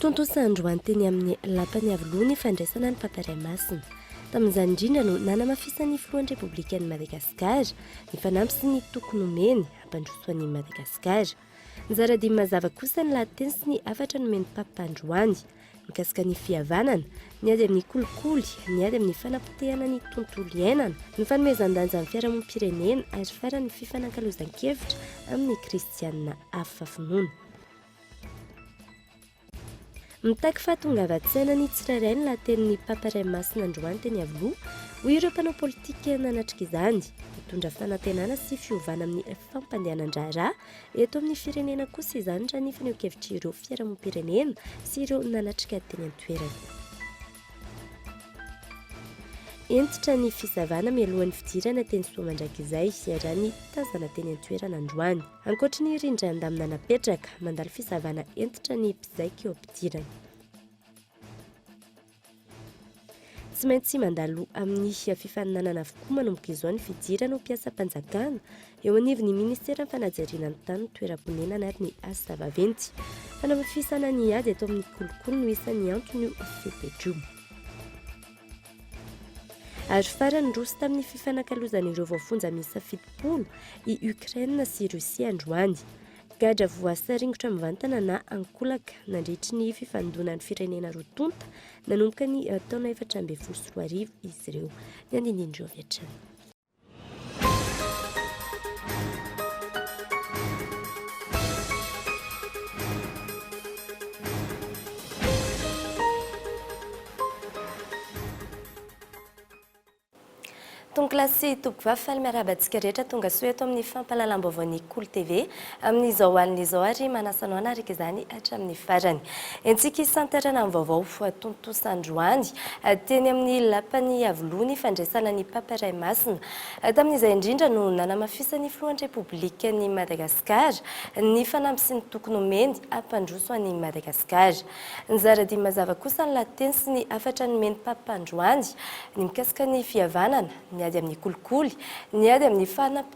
Tontosa androany teny amin'ny lapan'ny Iavoloha ny fandraisana ny Mpampirae Masina. Tamin'izany indrindra no nanamafisan'ny Filohan'ny Repoblikan'i Madagasikara ny fanamby sy ny toky nomeny hampandroso an'i Madagasikara. Nizara dimy mazava kosa ny lahateny sy ny hafatra nomen'ny Papa androany, mikasika ny fihavanana, ny ady amin'ny kolikoly, ny ady amin'ny fanapotehana ny tontolo iainana, ny fanomezan-danja ny fiarahamonim-pirenena ary farany ny fifanankalozan-kevitra amin'ny kristiana hafa finoana. Mitaky fahatongavan-tsaina ny tsirairay ny lahatenin'ny Papa Ray Masina androany teny Iavoloha, hoy ireo mpanao politika nanatrika izany. Hitondra fanantenana sy fiovana amin'ny fampandehanan-draharaha eto amin'ny firenena kosa izany raha ny fanehoan-kevitr'ireo fiarahamonim-pirenena sy ireo nanatrika teny an-toerana. Hentitra ny fisavana mialohan'ny fidirana teny Soamandrakizay, raha ny tazana teny an-toerana androany. Ankoatry ny rindran-damina napetraka, mandalo fisavana hentitra ny mpizaika eo am-pidirana. Tsy maintsy mandalo amin'ny fifaninanana avokoa manomboka izao ny fidirana ho mpiasam-panjakana eo anivon'ny Ministeran'ny Fanajariana ny Tany, ny Toeram-ponenana ary ny Asa Vaventy. Fanaofisana ny ady eto amin'ny kolikoly no isan'ny anton'io fepetra io. Ary farany niroso tamin'ny fifanakalozan'ireo voafonja miisa fitopolo i Ukraine sy Russie androany. Gadra voasaringotra mivantana na ankolaka nandritry ny fifandonan'ny firenena roa tonta nanomboka ny eh, taona efatra ambin'ny folo sy roa arivo izy ireo. Ny andinindin'ireo avy hatrany. Tonoklasy sy tompoko vavy faly miarahaba antsika rehetra tonga soa eto amin'ny fampahalalam-baovaon'ny Kolo TV. Amin'izao alina izao ary manasa anao hanaraka izany hatramin'ny farany. Entintsika hisantarana amin'ny vaovao voatontosa androany teny amin'ny Lapan'i Iavoloha ny fandraisana ny Papa Ray Masina. Tamin'izay indrindra no nanamafisan'ny Filohan'ny Repoblikan'i Madagasikara ny fanamby sy ny toky nomeny hampandroso an'i Madagasikara. Nizara dihy mazava kosa ny lahateny sy ny hafatra nomen'ny Papa androany ny mikasika ny fihavanana, ny ady amin'ny kolikoly, ny ady amin'ny fanam-.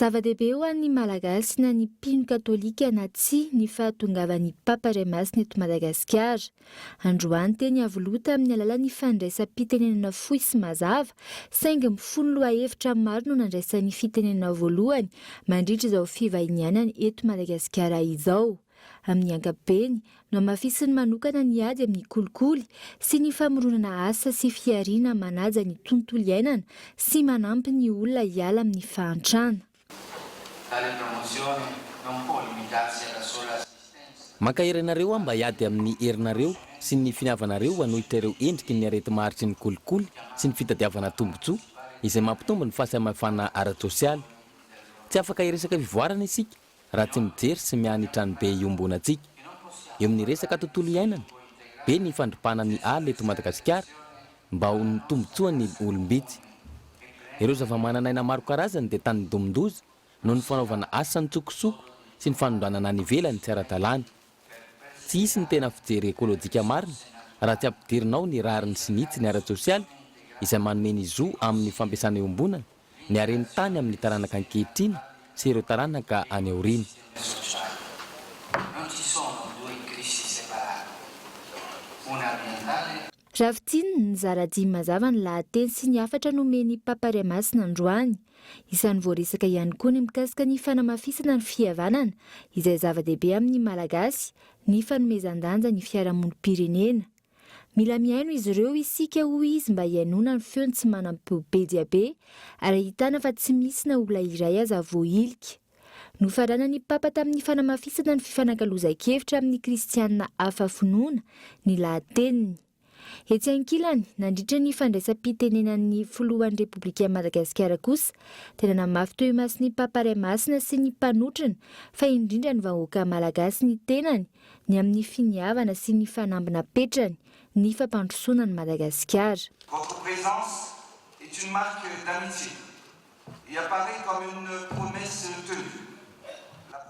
Zava-dehibe ho an'ny Malagasy na ny mpino katolika na tsia ny fahatongavan'ny Papa Iray Masina eto Madagasikara. Androany teny Iavoloha tamin'ny alalan'ny fandraisam-pitenenana fohy sy mazava saingy mifono lohahevitra maro no nandraisany fitenenana voalohany mandritra izao fivahinianany eto Madagasikara izao. Amin'ny ankapobeny, nohamafisiny manokana ny ady amin'ny kolikoly sy ny famoronana asa sy fihariana manaja ny tontolo iainana sy manampy ny olona hiala amin'ny fahantrana. Mankahery anareo aho mba hiady amin'ny herinareo sy ny finiavanareo hanohitra ireo endriky ny areti-maharitry ny kolikoly sy ny fitadiavana tombontsoa izay mampitombo ny fahasamihafana ara-tsosialy. Tsy afaka hiresaka fivoarana isika raha tsy mijery sy mianitra ny be iombonantsika eo amin'ny resaka tontolo iainana, be ny fandripana ny ala eto Madagasikara mba ho ny tombotsoan'ny olom-bitsy. Ireo zavamananaina maro karazany dia tanidomin-doza noho ny fanaovana asa an-tsokosoko sy ny fanondranana any ivelany tsy ara-dalàna. Tsy hisy ny tena fijery ekolojika marina raha tsy ampidirina ao ny rariny sy ny hitsiny ara-tsosialy izay manome ny zo amin'ny fampiasana iombonana ny haren'ny tany amin'ny taranaka ankehitriny sy ireo taranaka any aoriana. Ravitin, nizara dimy mazava ny lahateny sy ny hafatra nomen'i Papa Ray Masina androany. Isan'ny voaresaka ihany koa ny mikasika ny fanamafisana ny fihavanana, izay zava-dehibe amin'ny Malagasy, ny fanomezan-danja ny fiarahamonim-pirenena. Mila mihaino izy ireo isika hoy izy mba hihainoana ny feon'ny tsy manam-peo be dia be ary ahitana fa tsy misy na olona iray aza voahilika. Nofaranan'ny Papa tamin'ny fanamafisana ny fifanakalozan-kevitra amin'ny Kristianina hafa finoana ny lahateniny. Etsy ankilany, nandritra ny fandraisam-pitenenan'ny Filohan'ny Repoblikan'i Madagasikara kosa dia nanamafy teo imason'ny Papa Ray Masina sy ny mpanotrona fa indrindra ny vahoaka malagasy ny tenany ny amin'ny finiavana sy ny fanamby napetrany ny fampandrosoana an'i Madagasikara. Votre présence est une marque d'amitié.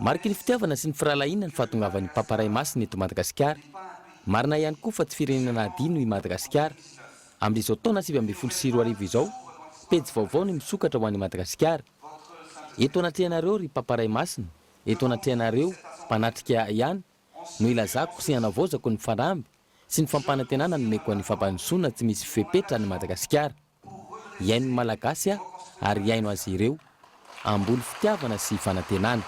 Mariky ny fitiavana sy ny firahalahiana ny fahatongavan'ny Papa Ray Masina eto Madagasikara. Marina ihany koa fa tsy firenena adino i Madagasikara. Amin'izao taona sivy ambin'ny folo sy roa arivo izao, pejy vaovao ny misokatra ho an'i Madagasikara. Eto anatrehanareo ry Papa Ray Masina, eto anatrehanareo mpanatrika ihany no ilazako sy anavaozako ny fanamby sy ny fampanantenana nomeko an'ny fampandrosoana tsy misy fepetra an'i Madagasikara. Hihaino ny Malagasy aho ary hihaino azy ireo. Amboly fitiavana sy fanantenana.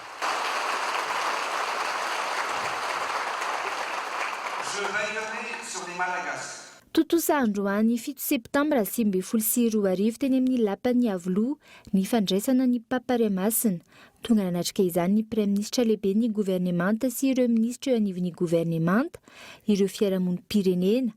Je veillerai sur les Malagasy. Tontosa androany fito septambra sivy ambin'ny folo sy roa arivo teny amin'ny Lapan'ny Iavoloha ny fandraisana ny Papa Ray Masina. Tonga nanatrika izany ny Praiminisitra Lehiben'ny Governemanta sy ireo Minisitra eo anivon'ny Governemanta, ireo fiarahamonim-pirenena,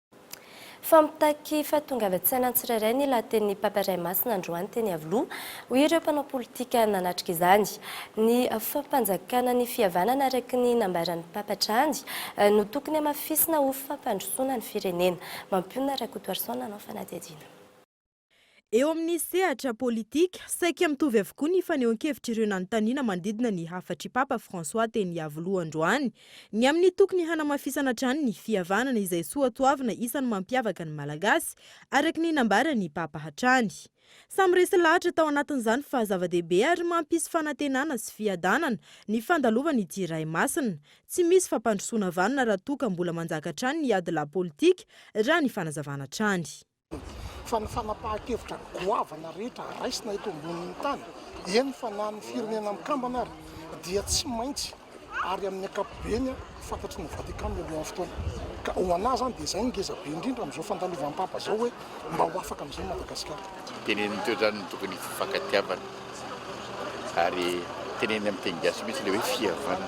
Fa mitaky fahatongavan-tsaina ny tsirairay ny lahatenin'ny Papa Ray Masina androany teny Iavoloha, hoy ireo mpanao politika nanatrika izany. Ny fampanjakana ny fihavanana araka ny nambaran'ny Papa hatrany no tokony hamafisina ho fampandrosoana ny firenena. Mampionona Rakotoarison nanao fanadihadiana. Eo amin'ny sehatra politika, saika mitovy avokoa ny fanehoan-kevitr'ireo nanontaniana manodidina ny hafatr'i Papa François teny Iavoloha androany, ny amin'ny tokony hanamafisana hatrany ny fihavanana izay soatoavina isan'ny mampiavaka ny Malagasy, araka ny nambaran'ny Papa hatrany. Samy resy lahatra tao anatin'izany fa zava-dehibe ary mampisy fanantenana sy fiadanana ny fandalovan'ity iray masina, tsy misy fampandrosoana vanona raha toa ka mbola manjaka hatrany ny ady lahy politika, raha ny fanazavana hatrany. fa ny fanapahan-kevitra goavana rehetra raisina eto ambonin'ny tany, eny fa na ny Firenena Mikambana ary, dia tsy maintsy ary amin'ny ankapobeny fantatry ny Vatican mialohan'ny fotoana. Ka ho an'ahy izany dia izay no ngeza be indrindra amin'izao fandalovam'Papa izao hoe mba ho afaka amin'izay Madagasikara. Tenenin'i Toedrano ny tokony hifankatiavana. ary teneniny amin'ny teny gasy mihitsy ilay hoe fihavanana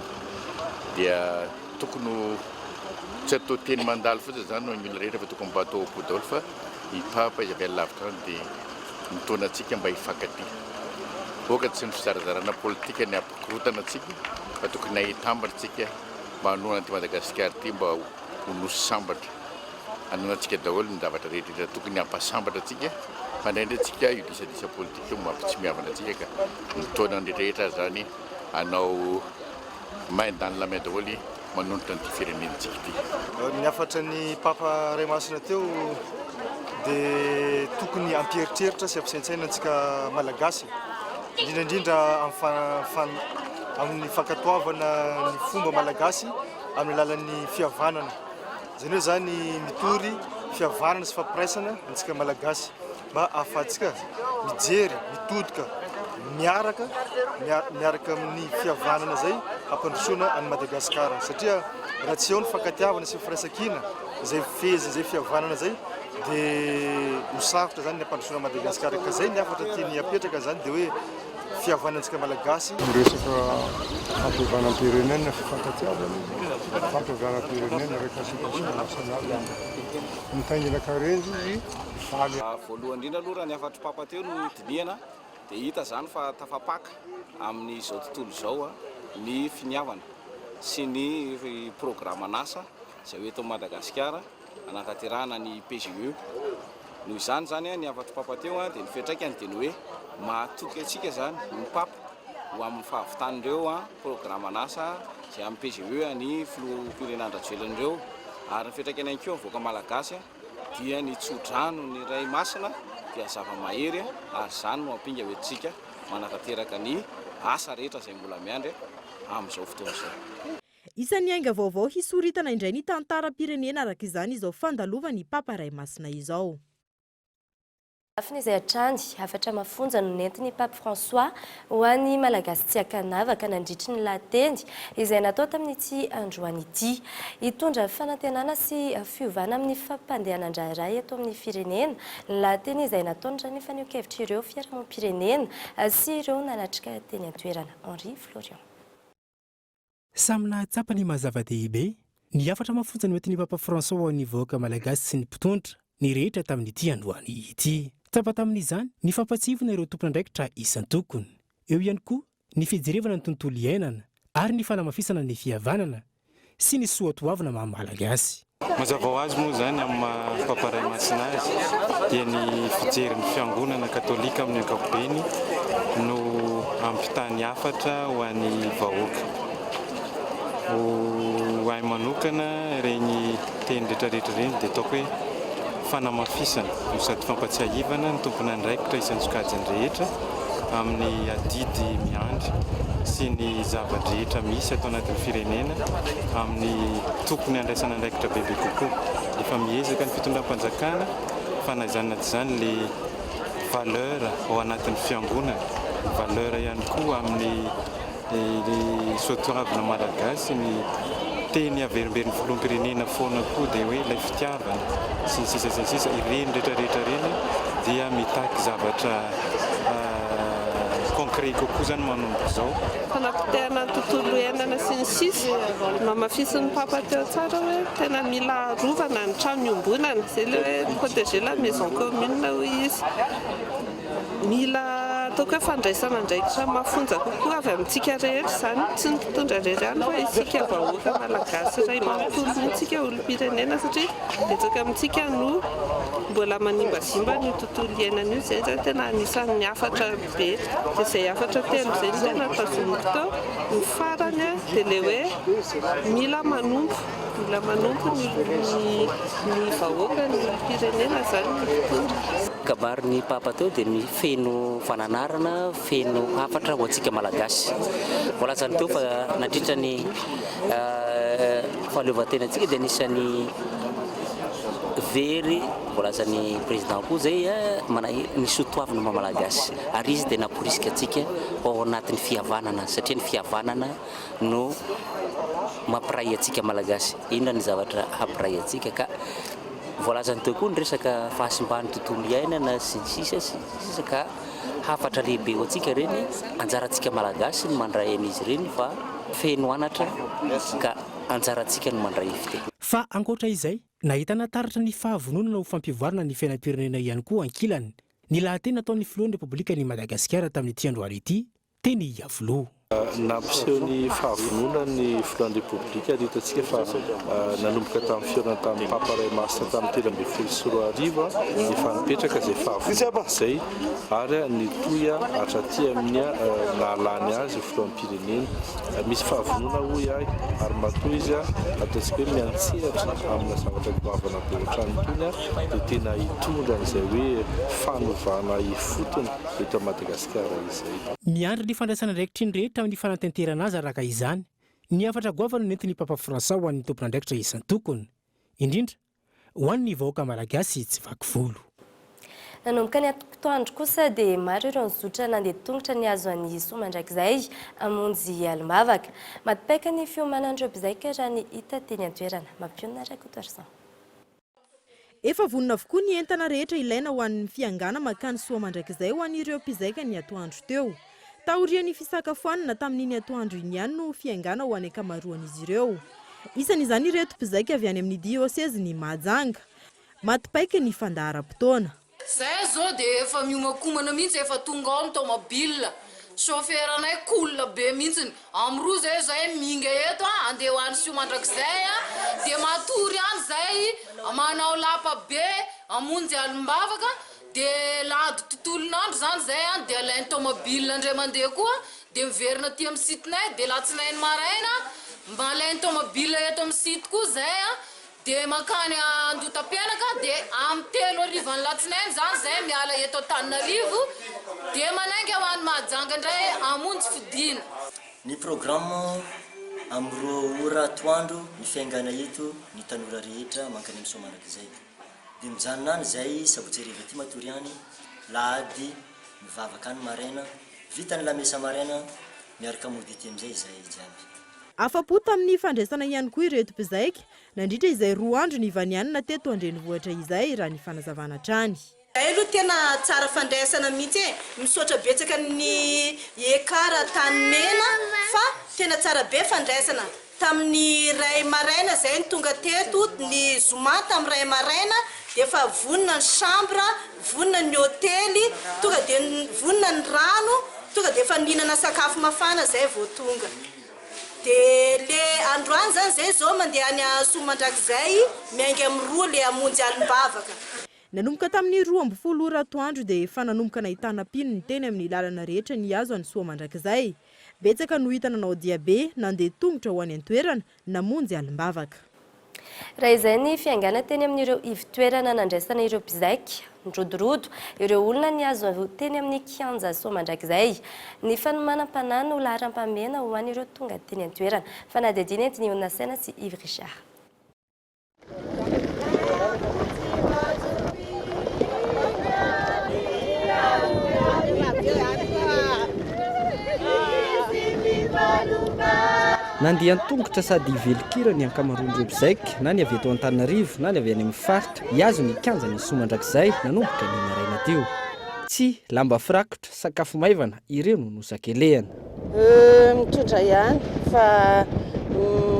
dia tokony ho tsy atao teny mandalo fotsiny izany ho an'ny olona rehetra fa tokony mba atao au bout daholo fa ny Papa izy avy any lavitra any dia mitaona antsika mba hifankatia. Hoaka tsy ny fizarazarana politika ny hampikorontana antsika fa tokony hahita ambiny isika mba hanohana an'ity Madagasikara ity mba ho nosy sambatra. Anonantsika daholo ny zavatra rehetra tokony hampasambatra antsika fa indraindray tsika io disadisa politika io mampitsimiavana antsika ka ny taona rehetrarehetra aza zany anao main dans la main daholo manonitra an'ity firenentsika ity. Ny hafatra ny Papa Ray Masina teo dia tokony hampieritreritra sy hampisaintsaina antsika Malagasy indrindra indrindra amin'ny fankatoavana ny fomba Malagasy amin'ny alalan'ny fihavanana. Jereo zany mitory fihavanana sy fampiraisana antsika malagasy mba ahafahantsika mijery, mitodika miaraka miaraka amin'ny fihavanana izay hampandrosoana an'i Madagasikara satria raha tsy eo ny fankatiavana sy firaisankina izay fehezina izay fihavanana izay dia ho sarotra izany ny hampandrosoana an'i Madagasikara ka izay ny hafatra tiany hapetraka izany dia hoe fihavanantsika Malagasy. Ny resaka fampihavanam-pirenena, fifankatiavana, fampihavanam-pirenena, réconciliation nationale, mitaingina karenjy ny valy. Voalohany indrindra aloha raha ny hafatry Papa teo no dinihana dia hita izany fa tafapaka amin'izao tontolo izao ny finiavana sy ny programan'asa izay ho eto Madagasikara. hanatanterahana ny PGE. Noho izany izany ny hafatro Papa teo dia ny fiantraikany dia ny hoe mahatoky antsika izany ny Papa ho amin'ny fahavitan'ireo programan'asa izay amin'ny PGE an'ny Filoham-pirenena Andry Rajoelina ireo ary ny fiantraikany ihany koa amin'ny vahoaka malagasy dia ny tso-dranon'ny Ray Masina dia zava-mahery ary izany no hampinga hoentintsika manatanteraka ny asa rehetra izay mbola miandry amin'izao fotoana izao. Isan'ny ainga vaovao hisoritana indray ny tantaram-pirenena araka izany izao fandalovan'i Papa Ray Masina izao. Lafiny izay hatrany, hafatra mafonja no nentin'i Pape François ho an'ny Malagasy tsy an-kanavaka nandritry ny lahateny izay natao tamin'ity androany ity. Hitondra fanantenana sy fiovana amin'ny fampandehanan-draharaha eto amin'ny firenena ny lahateny izay nataony raha ny fanehoan-kevitr' ireo fiarahamonim-pirenena sy ireo nanatrika teny an-toerana. Henri Florian. Samy nahatsapa ny maha-zava-dehibe, ny hafatra mafonja noentin'ny Papa François ho an'ny vahoaka malagasy sy ny mpitondra, ny rehetra tamin'ity androany ity. Tsapa tamin'izany ny fampahatsiahivana ireo tompon'andraikitra isan-tokony. Eo ihany koa ny fijerevana ny tontolo iainana ary ny fanamafisana ny fihavanana sy ny soatoavina maha-malagasy. Mazava ho azy moa izany amin'ny maha Papa Ray Masina azy dia ny fijerin'ny Fiangonana Katolika amin'ny ankapobeny no ampitany hafatra ho an'ny vahoaka. Ho ahy manokana ireny teny retraretra ireny dia ataoko hoe. Fanamafisana no sady fampatsiahivana ny tompon'andraikitra isan-tsokajiny rehetra amin'ny adidy miandry sy ny zava-drehetra misy ato anatin'ny firenena amin'ny tokony handraisana andraikitra bebe kokoa. Efa miezaka ny fitondram-panjakana fa na izany na tsy izany le valeur ao anatin'ny fiangonana, valeur ihany koa amin'ny Dia ilay soatoavina malagasy ny teny averimberin'ny filoham-pirenena foana koa dia hoe ilay fitiavana sy ny sisa sy ny sisa, ireny rehetra rehetra ireny dia mitaky zavatra concret kokoa izany manomboka izao. Fanapotehana ny tontolo iainana sy ny sisa, namafisin'ny papa teo tsara hoe tena mila arovana ny trano iombonana, izay ilay hoe proteger la maison commune hoy izy. Mila atao koa fandraisana andraikitra mafonja kokoa avy amintsika rehetra izany, tsy ny mpitondra irery ihany fa isika vahoaka malagasy iray manontolo mihitsy, isika olom-pirenena satria betsaka amintsika no mbola manimbazimba an'io tontolo iainana io, izay zany tena anisan'ny hafatra be, dia izay hafatra telo izay no tena tazomiko teo, ny farany dia ilay hoe mila manompo. Mbola manompo ny ny vahoaka ny firenena zany ny mpitondra. Kabary ny papa teo dia feno fananarana, feno hafatra ho antsika malagasy. Voalazany teo fa nandritra ny fahaleovantenantsika dia anisan'ny very voalazan'ny président koa zay ny soa toavina maha malagasy ary izy dia namporisika antsika ao anatin'ny fihavanana satria ny fihavanana no mampiray antsika Malagasy. Inona ny zavatra hampiray antsika ka voalazany teo koa ny resaka fahasimban'ny tontolo iainana sy ny sisa sy ny sisa ka hafatra lehibe ho antsika ireny. Anjarantsika Malagasy ny mandray an'izy ireny fa feno anatra ka anjarantsika ny mandray ifite. Fa ankoatra izay, nahitana taratra ny fahavononana ho fampivoarana ny fiainam-pirenena ihany koa ankilany, ny lahateny nataon'ny Filohan'ny Repoblikan'i Madagasikara tamin'ity androany ity, Teny Iavoloha. Nampiseho ny fahavononany ny filohan'ny Repoblika ary hitantsika fa nanomboka tamin'ny fihaonana tamin'ny Papa iray masina tamin'ny telo ambin'ny folo sy roa arivo dia efa nipetraka izay fahavononana izay ary nitohy hatraty amin'ny naha lany azy ho filoham-pirenena. Misy fahavononana hoy ahy ary matoa izy ataontsika hoe miantsehatra amina zavatra goavana be ohatran'ny itony dia tena hitondra an'izay hoe fanovana ifotony eto Madagasikara. Madagasikara izay. Miandry ny fandraisana andraikitry ny rehetra amin'ny fanatanterana azy araka izany ny hafatra goavana nentin'ny Papa Fransa ho an'ny tompon'andraikitra isan-tokony, indrindra ho an'ny vahoaka Malagasy tsy vaky volo. Nanomboka ny atoandro kosa dia maro ireo nizotra nandeha tongotra nihazo an'i Soa mandrakizay hamonjy alim-bavaka. Maty paika ny fiomanan'ireo mpizaika raha ny hita teny an-toerana. Mampionona Rakotoarison. Efa vonona avokoa ny entana rehetra ilaina ho an'ny fiangana makany soa mandrakizay ho an'ireo mpizaika ny atoandro teo. Taorian'ny fisakafoanana tamin'iny atoandro iny ihany no fiangana ho an'ny ankamaroan'izy ireo. Isan'izany ireto mpizaika avy any amin'ny diosezin'i Mahajanga. Maty paika ny fandaharam-potoana. Zahay zao dia efa miomankomana mihitsy efa tonga ao ny tomobile, chaufferanay cool be mihitsiny, am roa zay zahay minga eto a, andeha ho any sioa mandrakizay a, dia matory any zahay manao lapa be hamonjy alim-bavaka, dia landy tontolon'andro zany zahay any dia alain'ny tomobile indray mandeha koa dia miverina aty am site-nay dia latsinainy maraina mba alain'ny tomobile eto am site koa zahay a. Dia mankany Andotapenaka dia amin'ny telo harivan'ny latsinainy izany izay miala eto Antananarivo dia manainga ho any Mahajanga indray hamonjy fodiana. Ny programme, amin'ny roa ora atoandro ny fiaingana eto ny tanora rehetra mankany amin'ny Soamanakizay. Dia mijanona any izay sabotsy hariva aty matory any, lahady mivavaka any maraina, vita ny lamesa maraina miaraka mody aty amin'izay izahay jiaby. Afa-po tamin'ny fandraisana ihany koa ireto mpizaika, nandritra izay roa andro nivanianana teto an-drenivohitra izay, raha ny fanazavana hatrany. Zahay aloha tena tsara fandraisana mihitsy e! Misaotra betsaka ny Ekar Antanimena fa tena tsara be fandraisana. Tamin'ny iray maraina zay no tonga teto, ny zoma tamin'ny iray maraina dia efa vonona ny chambre. vonona ny hotely, tonga dia vonona ny rano, tonga dia efa nihinana sakafo mafana zay vao tonga. Dia le androany zany zay zao mandeha any Hazosoa mandrakizay miainga amin'ny roa le hamonjy alim-bavaka. Nanomboka tamin'ny roa ambin'ny folo ora atoandro dia efa nanomboka nahitana mpino ny teny amin'ny lalana rehetra nihazo an'i Soamandrakizay. Betsaka no hita nanao diabe, nandeha tongotra ho any an-toerana, namonjy alim-bavaka. Raha izay ny fiaingàna teny amin'ireo ivo-toerana nandraisana ireo mpizaika, nirodorodo, ireo olona nihazo teny amin'ny kianja soa mandrakizay. Ny fanomanam-panahy no laharam-pahamehana ho an'ireo tonga teny an-toerana. Fanadihadiana entin'i Onna Saina sy Yves Richard. Nandeha an-tongotra sady velon-kira ny ankamaroan'ireo mpizaik, na ny avy eto Antananarivo na ny avy any amin'ny faritra, hihazo ny kianjan'ny Isoa mandrakizay nanomboka ny maraina teo. Tsihy, lamba firakotra, sakafo maivana, ireo no nosakelehana. Mitondra ihany fa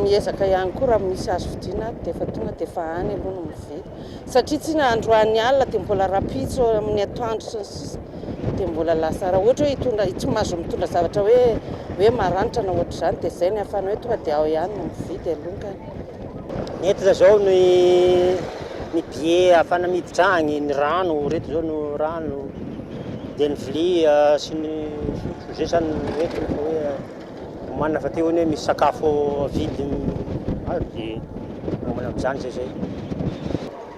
miezaka ihany koa raha misy azo vidiana ato dia efa tonga dia efa any aloha no mividy. Satria tsy na androany alina dia mbola rahampitso amin'ny atoandro sy ny sisa dia mbola lasa. Raha ohatra hoe hitondra, tsy mahazo mitondra zavatra hoe hoe maranitra na ohatr'izany dia izay no ahafahana hoe tonga dia ao ihany no mividy aloha. Ny entana zao ny ny billet ahafahana miditra agny, ny rano, reto zao no rano, de ny vilia sy ny sotro, zay zany ny entana fa hoe omanina fa teo anie misy sakafo avidy azo de miomana am'zany zay zay.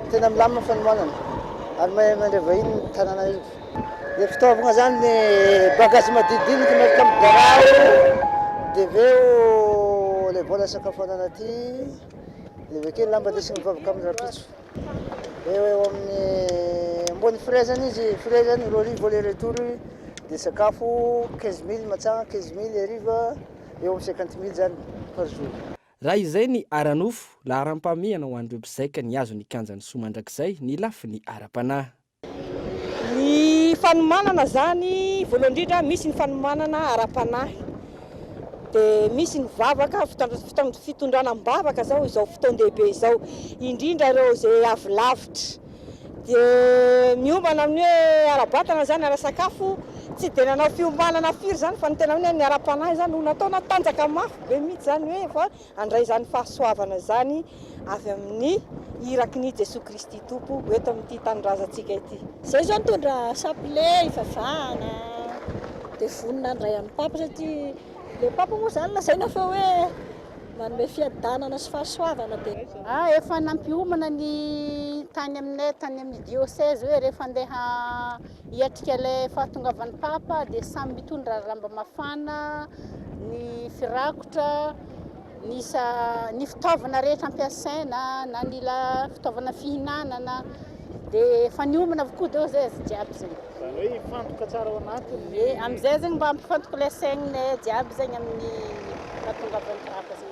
Tena milamina ny fanomanana ary mahay mandray vahiny ny tanàna eto. Dia fitaovagna zany ny bagage madinidinika miaraka amin'ny birao, dia avy eo ilay vola isakafoanana aty, dia avy akeo ny lamba ndesiny mivavaka amin'ny rahampitso. Eo eo amin'ny ambony frais zany izy, frais zany roa arivo aller retour, dia sakafo quinze mille matsagna, quinze mille hariva, eo amin'ny cinquante mille zany par jour. Raha izay ny ara-nofo, laharam-pahamehana ho an'ireo mpizaika nihazo ny kianjan'i Soa mandrakizay ny lafiny ara-panahy. Ny fanomanana izany, voalohany indrindra, misy ny fanomanana ara-panahy, dia misy ny vavaka, fitondrana am-bavaka izao, izao fotoan-dehibe izao, indrindra ireo izay avy lavitra. Dia miombana amin'ny hoe ara-batana izany, ara-sakafo, tsy dia nanao fiomanana firy izany, fa ny tena hoe ny ara-panahy izany no nataonao, tanjaka mafy be mihitsy izany hoe. Handray izany fahasoavana izany avy amin'ny iraky ny Jesoa Kristy Tompo eto amin'ity tanindrazantsika ity. Izay izao nitondra chapelet hivavahana dia vonona handray an'i Papa satria ilay Papa moa izany lazaina fa hoe manome fiadanana sy fahasoavana dia. Ah efa nampiomana ny tany aminay tany amin'ny diocèse hoe rehefa andeha Hiatrika ilay fahatongavan'ny Papa dia samy mitondra lamba mafana, ny firakotra, ny isa, ny fitaovana rehetra ampiasaina na ny la fitaovana fihinanana dia efa niomana avokoa deo zay azy jiaby zay. Zany hoe hifantoka tsara ao anatiny. Ye, amizay zegny mba hampifantoka ilay saigniny jiaby zegny amin'ny fahatongavan'ny Papa zegny.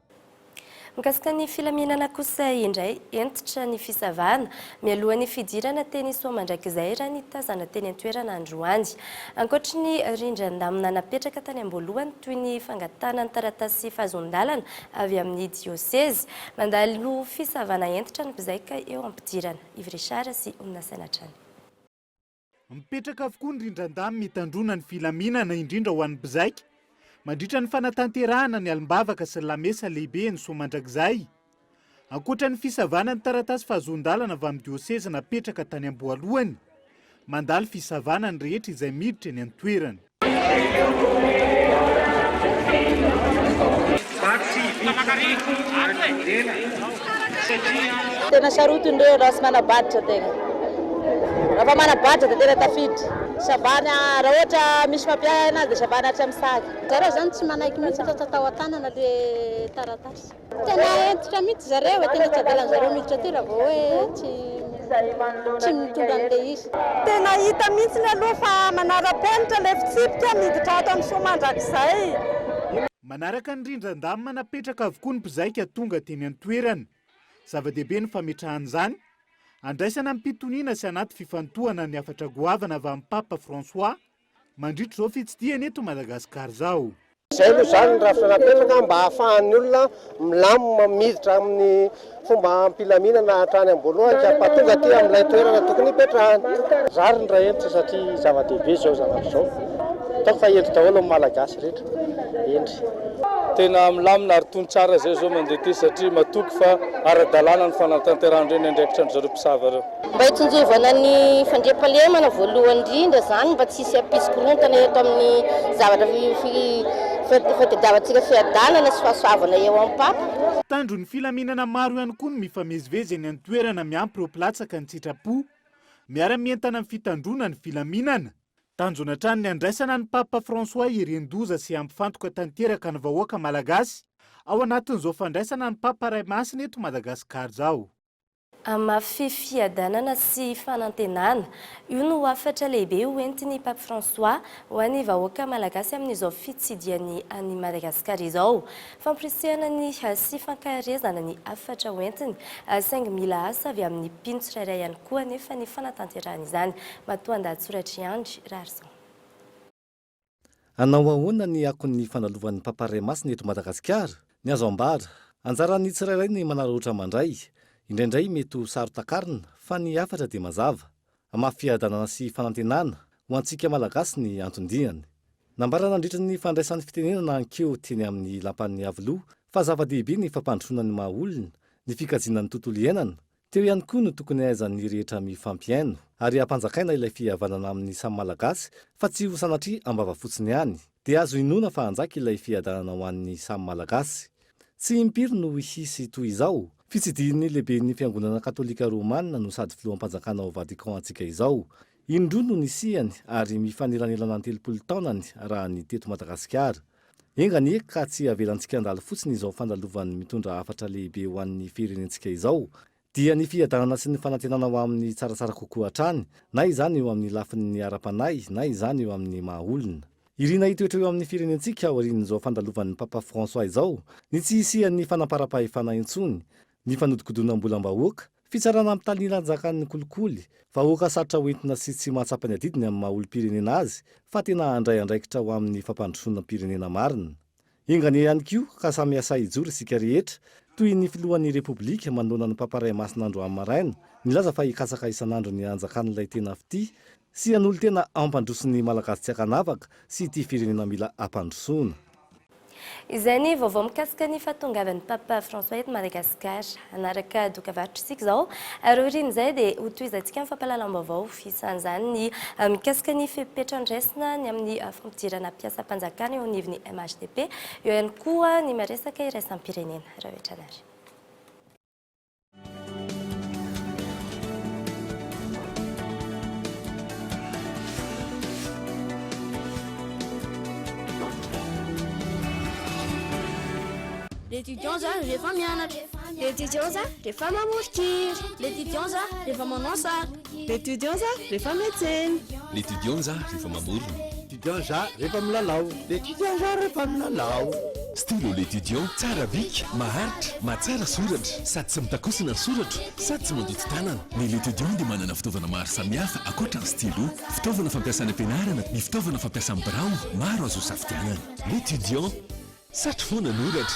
Mikasika ny filaminana kosa indray, hentitra ny fisavana, mialohan'ny fidirana teny Soamandrakizay, raha ny tazana teny an-toerana androany. Ankoatry ny rindran-damina napetraka tany am-boalohany toy ny fangatahana ny taratasy fahazoan-dalana avy amin'ny diosezy, mandalo fisavana hentitra ny mpizaika eo am-pidirana. Yves Richard sy Ony Nasaina hatrany. Mipetraka avokoa ny rindran-damy mitandroana ny filaminana indrindra ho an'ny mpizaika mandritra ny fanatanterahana ny alim-bavaka sy ny lamesa lehibe eny Soamandrakizay. Ankoatra ny fisavana ny taratasy fahazoan-dalana avy amin'ny diosezy napetraka tany am-boalohany, mandalo fisavana ny rehetra izay miditra eny an-toerana. Tena sarotiny reo raha manabaditra tegna. Raha fa manabaditra de tena tafiditra. Ça va ny raha ohatra misy mampiahy anazy de ça va ny hatramin'ny sac. Za raha zany tsy manaiky mihitsy fa tsy atao an-tanana le taratasy. Tena hentitra mihitsy zareo e, tena tsy avelan'zareo miditra aty raha vao hoe tsy tsy mitondra an'ilay izy. Tena hita mihitsiny aloha fa manara-penitra ilay fitsipika miditra ato amin'ny soamandrakizay. Manaraka ny rindran-damina napetraka avokoa ny mpizaika tonga teny an-toerana. Zava-dehibe ny fametrahana izany. Andraisana am-pitoniana sy anaty fifantohana ny hafatra goavana avy amin'ny Papa François Mandritra izao fitsidihana eto Madagascar zao. Izay aloha izany ny rafitra napetraka mba hahafahan'ny olona milamina miditra amin'ny fomba am-pilaminana hatrany am-boalohany ka mpahatonga aty amin'ilay toerana tokony hipetrahany. Rariny raha hentitra satria zava-dehibe izao zavatra izao. Ataoko fa hendry daholo ny Malagasy rehetra. Hendry. Tena milamina ary tony tsara izay izao mandeha ity satria matoky fa ara-dalàna ny fanatanterahan-dry ny andraikitra an-dry zareo mpisava ireo. Mba hitsinjovana ny fandriampahalemana voalohany indrindra izany mba tsy hisy hampisy-korontana eto amin'ny zavatra fitadiavantsika fiadanana sy fahasoavana eo am-papa. Mpitandron'ny filaminana maro ihany koa no mifamezivezy eny an-toerana miampy ireo mpilatsaka an-tsitrapo. Miara-mientana amin'ny fitandroana ny filaminana. Tanjona hatrany ny handraisana an'i Papa François hirindoza sy hampifantoka tanteraka ny vahoaka malagasy ao anatin'izao fandraisana an'i Papa Ray Masina eto Madagasikara izao. Hamafy fiadanana sy fanantenana. Io no hafatra lehibe ho entin'i Pape François ho an'ny vahoaka malagasy amin'izao fitsidiany an'i Madagasikara izao. Fampirisihana ny sy fankaherezana ny hafatra ho entiny, saingy mila asa avy amin'ny mpino tsirairay ihany koa anefa ny fanatanterahana izany. Matoandahatsoratr'i Andry Raharizaona. Hanao ahoana ny akon'ny fandalovan'ny Papa Ray Masina eto Madagasikara? Ny azo ambara, anjaran'ny tsirairay ny manararaotra mandray, indraindray mety ho saro-takarina fa ny hafatra dia mazava. Hamafy fiadanana sy fanantenana ho antsika Malagasy ny anton-diany. Nambara nandritra ny fandraisany fitenenana an-keo teny amin'ny Lapan'ny Iavoloha fa zava-dehibe ny fampandrosoana ny maha-olona, ny fikajiana ny tontolo iainana, Teo ihany koa no tokony hahaizan'ny rehetra mifampihaino ary hampanjakaina ilay fihavanana amin'ny samy Malagasy fa tsy ho sanatria am-bava fotsiny ihany, dia azo inoana fa hanjaka ilay fiadanana ho an'ny samy Malagasy. Tsy impiry no hisy toy izao. Fitsidihin'ny Lehiben'ny Fiangonana Katolika Romanina no sady Filoham-panjakana ao Vatican antsika izao, Indroa no nisiany ary mifanelanelana ny telopolo taonany raha ny teto Madagasikara. Enga anie ka tsy avelantsika handalo fotsiny izao fandalovany mitondra hafatra lehibe ho an'ny firenentsika izao. Dia ny fiadanana sy ny fanantenana ho amin'ny tsaratsara kokoa hatrany, na izany eo amin'ny lafin'ny ara-panahy na izany eo amin'ny maha olona. Irina hitoetra eo amin'ny firenentsika aorian'izao fandalovan'ny Papa François izao ny tsy hisian'ny fanamparam-pahefana intsony, ny fanodikodinam-bolam-bahoaka, fitsarana ampitanilanjakan'ny kolikoly, vahoaka sarotra ho entina sy tsy mahatsapa ny adidiny amin'ny maha olom-pirenena azy fa tena handray andraikitra ho amin'ny fampandrosoanam-pirenena marina. Enga anie ihany koa ka samy hiasà hijoro isika rehetra, toy ny filohan'ny Repoblika manoloana ny mpamparay masina andro amaraina, nilaza fa hikatsaka isan'andro ny hanjakan'ilay tena fitia Tsy hanolo-tena hampandroso ny Malagasy tsy ankanavaka sy ity firenena mila hampandrosoana. Izay ny vaovao mikasika ny fahatongavan'ny Papa François eto Madagasikara. Hanaraka doka varotra isika izao ary aorian'izay dia hotohizantsika ny fampahalalam-baovao, isan'izany ny mikasika ny fepetra andraisina ny amin'ny fampidirana mpiasam-panjakana eo anivon'ny MHDP, eo ihany koa ny maresaka iraisam-pirenena. Rahovitrany ary. L'étudiant za rehefa mianatra. L'étudiant za rehefa mamory kira. L'étudiant za rehefa manao sary. L'étudiant za rehefa miantsena. L'étudiant za rehefa mamorona. L'étudiant za rehefa milalao. L'étudiant za rehefa milalao. Stylo L'étudiant tsara bika, maharitra, mahatsara soratra, sady tsy mitakosina ny soratro, sady tsy mandoto tanana. Ny L'étudiant dia manana fitaovana maro samihafa ankoatra ny stylo. Fitaovana fampiasa any am-pianarana ny fitaovana fampiasa amin'ny birao, maro azo isafidianana. L'étudiant, satry foana anoratra.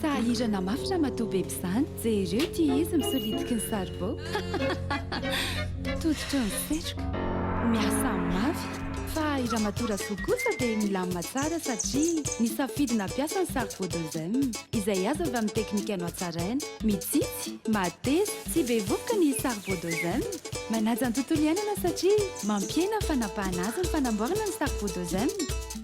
Sahirana mafy ramatoa beby izany. Jereo ity izy misolitiky ny saribao. Tototry ny setroka. Miasa mafy. Fa i ramatoa Rasoa kosa dia milamina tsara satria nisafidy nampiasa ny saribao de zem. Izay azo avy amin'ny teknika nohatsaraina. Mitsitsy, mateza, tsy be vovoka ny saribao de zem. Manaja ny tontolo iainana satria mampiena ny fanapahana azy ny fanamboarana ny saribao de zem.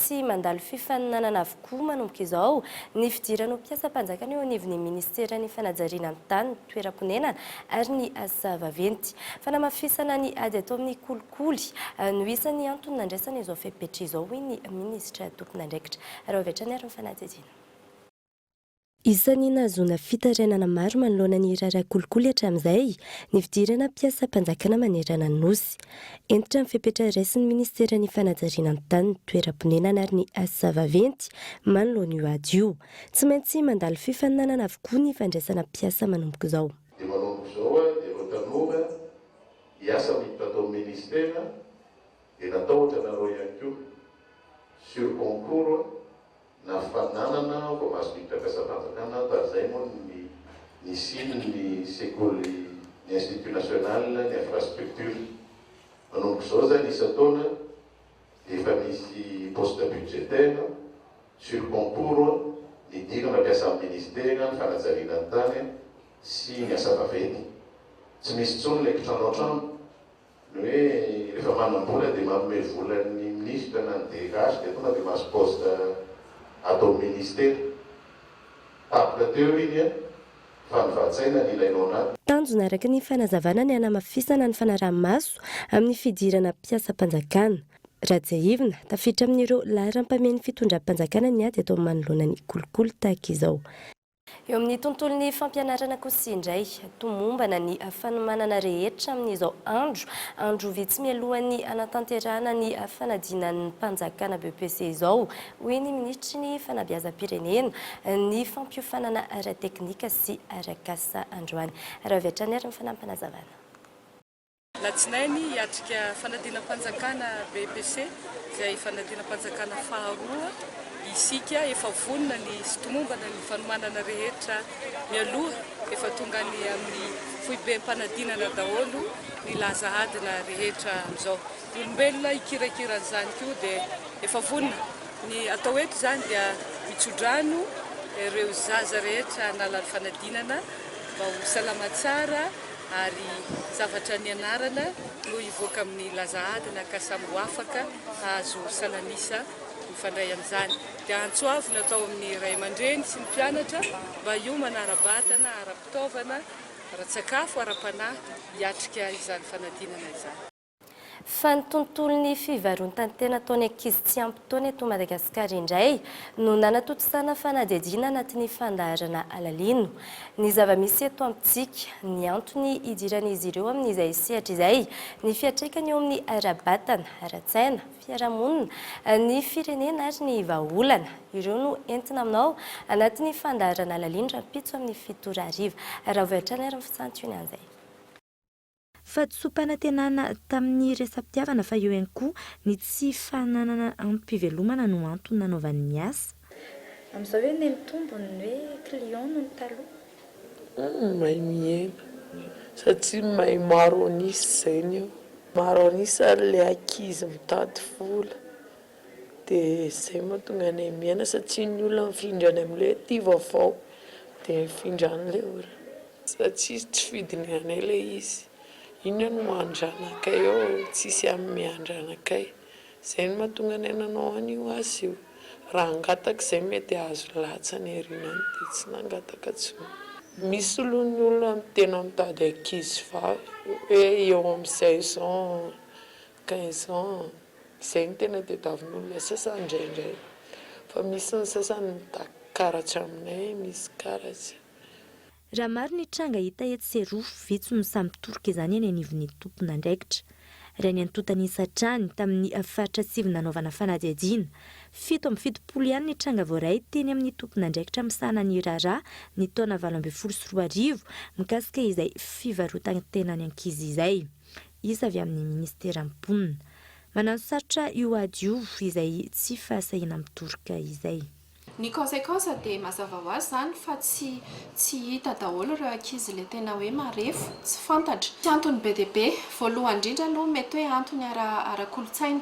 Tsy mandalo fifaninanana avokoa manomboka izao ny fidiran'ho mpiasam-panjakana eo anivon'ny Ministeran'ny Fanajariana ny Tany, ny Toeram-ponenana ary ny Asa Vaventy. Fanamafisana ny ady atao amin'ny kolikoly no isan'ny antony nandraisana izao fepetra izao, hoy ny Minisitra tompon'andraikitra. Raha avy hatrany ary ny fanadihadiana. Isan'ny nahazoana fitarainana maro manoloana ny raharaha kolikoly hatramin'izay ny fidirana mpiasam-panjakana manerana ny Nosy. Hentitra ny fepetra raisin'ny Ministeran'ny Fanajariana ny Tany, ny Toeram-ponenana ary ny Asa Vaventy manoloana io ady io. Tsy maintsy mandalo fifaninanana avokoa ny fandraisana mpiasa manomboka izao. Dia manomboka izao ary dia ireo tanora hiasa miditra tao amin'ny Ministera dia natahotra nareo ihany koa. Sur concours Na fananana voamaritraka sa fanjakana, tary izay moa ny nisian'ny sekoly, ny Institut National, ny infrastructure. Manomboka izao izany isan-taona dia efa misy poste budgétaire sur concours nidirana mpiasa amin'ny Ministera ny fanajariana ny tany sy ny asa vaventy. Tsy misy intsony ilay kitrano an-trano. Ny hoe rehefa manam-bola dia manome vola ny minisitra na ny DH dia tonga dia mahazo poste ato amin'ny ministera. Tapitra teo iny an! Fa ny vats'aina no ilainao na. Tanjona araka ny fanazavana ny hanamafisana ny fanaraha-maso amin'ny fidirana mpiasam-panjakana. Raha tsiahivina, tafiditra amin'ireo laharam-pahamehany fitondram-panjakana ny ady atao manoloana ny kolikoly tahaka izao. Eo amin'ny tontolon'ny fampianarana kosa indray, tomombana ny fanomanana rehetra amin'izao andro, andro vitsy mialohan'ny hanatanterahana ny fanadinan'ny mpanjakana BEPC izao, hoy ny minisitry ny fanabeazam-pirenena, ny fampiofanana ara-teknika sy ara-kasa androany. Raha avy hatrany ary ny fanampinazavana. Alatsinainy, hiatrika fanadinam-panjakana BEPC, izay fanadinam-panjakana faharoa, isika. Efa vonona ny sy tomombana ny fanomanana rehetra mialoha. Efa tonga any amin'ny foibem-panadinana daholo ny laza adina rehetra amin'izao. Ny olombelona hikirakira an'izany koa dia efa vonona. Ny atao eto izany dia mitsodrano ireo zaza rehetra nalany fanadinana mba ho salama tsara. ary zavatra nianarana no hivoaka amin'ny laza adina ka samy ho afaka hahazo salan'isa mifandray amin'izany. Dia antso avo natao amin'ny ray aman-dreny sy ny mpianatra mba hiomana ara-batana, ara-pitaovana, ara-tsakafo, ara-panahy hiatrika izany fanadinana izany. Fa ny tontolon'ny fivarontan-tena ataon'ny ankizy tsy ampy taona eto Madagasikara indray no nanatontosana fanadihadiana anatin'ny fandaharana Alalino ny zava-misy eto amintsika, ny antony hidiran'izy ireo amin'izay sehatra izay, ny fiantraikany eo amin'ny ara-batana, ara-tsaina, fiarahamonina, ny firenena ary ny vahaolana. Ireo no entina aminao anatin'ny fandaharana Alalino rahampitso amin'ny fito ora hariva. Arahavo hatrany ary ny fisantionan'izay. Fahatsoam-panantenana tamin'ny resa-pitiavana fa eo ihany koa ny tsy fananana antom-pivelomana no antony nanaovany ny asa. Amin'izao hoe ny mitombony ny hoe clients noho ny taloha? Hum, mahay mihena. Satria mahay maro an'isa izay ny eo. Maro an'isa ilay ankizy mitady vola. Dia izay mahatonga anay miaina satria ny olona mifindra any amin'ilay hoe tia vaovao dia mifindra any ilay olona. Satria tsy fidiny anay ilay izy. Inona no maha andranakay ao tsisy amin'ny miha andranakay. Izay no mahatonga anay nanao an'io asa io. Raha hangataka izay mety hahazo latsany aoriana any dia tsy nangataka intsony. Misy aloha ny olona tena mitady ankizivavy hoe eo amin'ny seize ans, quinze ans. Zay no tena tediavin'olona sasany ndraindray fa misy ny sasany mitaky karatra aminay misy karatra. Raha maro ny tranga hita etsy sy eroa, vitsy no sahy mitoroka izany eny anivon'ny tompon'andraikitra. Raha ny antontan'isa hatrany, tamin'ny faritra sivy nanaovana fanadihadiana, fito amby fitopolo ihany ny tranga voaray teny amin'ny tompon'andraikitra misahana ny raharaha ny taona valo ambin'ny folo sy roa arivo mikasika izay fivarotan-tenan'ny ankizy izay. isa avy amin'ny minisiteran'ny mponina. Mananosarotra io ady io izay tsy fahasahiana mitoroka izay. Ny conséquence dia mazava ho azy izany fa tsy tsy hita daholo ireo ankizy ilay tena hoe marefo, tsy fantatra. Tsy antony be dia be. Voalohany indrindra aloha mety hoe antony ara ara-kolontsaina.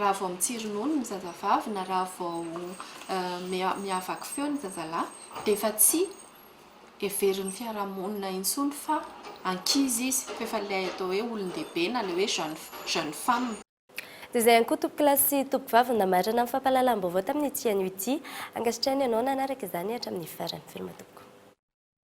raha vao mitsironono ny zazavavy na raha vao miavaky feo ny zazalahy dia efa tsy heverin'ny fiarahamonina intsony fa ankizy izy, fa efa ilay atao hoe olon-dehibe na ilay hoe jeune femme. Dia izay ihany koa tompokolahy sy tompovavy no namarana ny fampahalalam-baovao tamin'ity anio ity. Ankasitrahiny ianao nanaraka izany hatramin'ny farany. Veloma tompoko.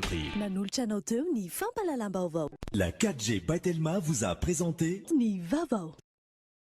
Prix. Nanolotra anao teo ny fampahalalam-baovao. La 4G by Telma vous a présenté. Ny vaovao.